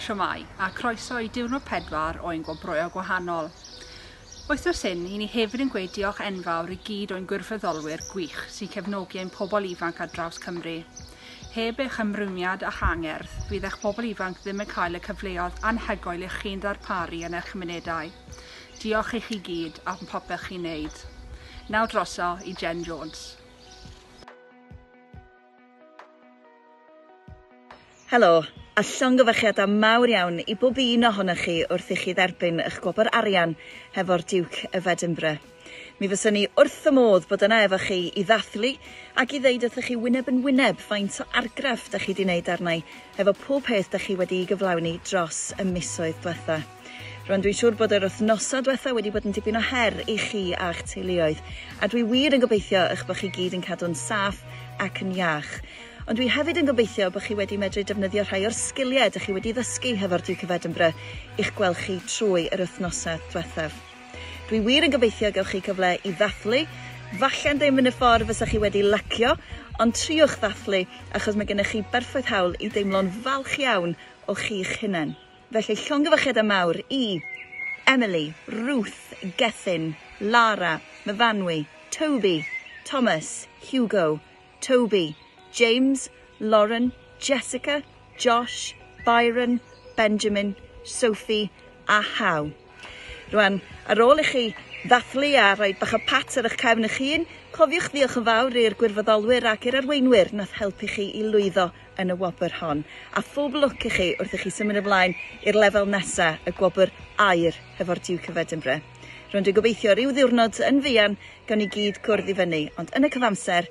Siomai, a croeso i diwrnod pedwar o ein gwobrwyo gwahanol. Wythnos hyn, i ni hefyd yn gweud diolch enfawr i gyd o'n gwirfoddolwyr gwych sy'n cefnogi ein pobl ifanc ar draws Cymru. Heb eich ymrwymiad a'ch angerdd, fydd eich pobl ifanc ddim yn cael y cyfleoedd anhygoel ych chi'n ddarparu yn eich cymunedau. Diolch i chi gyd am popeth chi'n neud. Naw droso i Jen Jones. Helo, a llongyfarchiadau mawr iawn i bob un ohonoch chi wrth i chi dderbyn ych gwobr arian hefo'r Duke of Edinburgh. Mi fyswn ni wrth fy modd bod yna efo chi i ddathlu ac i ddeud wrthych chi wyneb yn wyneb faint o argraff da chi di neud arnai hefo pob peth da chi wedi'i gyflawni dros y misoedd dwetha. Rwan dwi'n siŵr bod yr wythnosau diwetha wedi bod yn dipyn o her i chi a'ch teuluoedd, a dwi wir yn gobeithio eich bod chi gyd yn cadw'n saff ac yn iach. Ond dwi hefyd yn gobeithio bod chi wedi medru defnyddio rhai o'r sgiliau dych chi wedi ddysgu hefo'r Duke of Edinburgh i'ch gwell chi trwy yr wythnosau diwethaf. Dwi wir yn gobeithio gewch chi gyfle i ddathlu, falle'n ddim yn y ffordd fysa chi wedi lacio, ond triwch ddathlu achos mae gennych chi berffaith hawl i deimlo'n falch iawn o chi'ch hunain. Felly llongyfarchiadau mawr i Emily, Ruth, Gethin, Lara, Myfanwy, Toby, Thomas, Hugo, Toby, James, Lauren, Jessica, Josh, Byron, Benjamin, Sophie a How. Rwan, ar ôl i chi ddathlu a rhoi bach o pat ar eich cefn eich hun, cofiwch ddiolch yn fawr i'r gwirfoddolwyr ac i'r arweinwyr nath helpu chi i lwyddo yn y wobr hon. A phob lwc i chi wrth i chi symud ymlaen i'r lefel nesa, y gwobr aur hefo'r Duke of Edinburgh. Rwan dwi'n gobeithio ryw ddiwrnod yn fuan gawn ni gyd cwrdd i fyny, ond yn y cyfamser,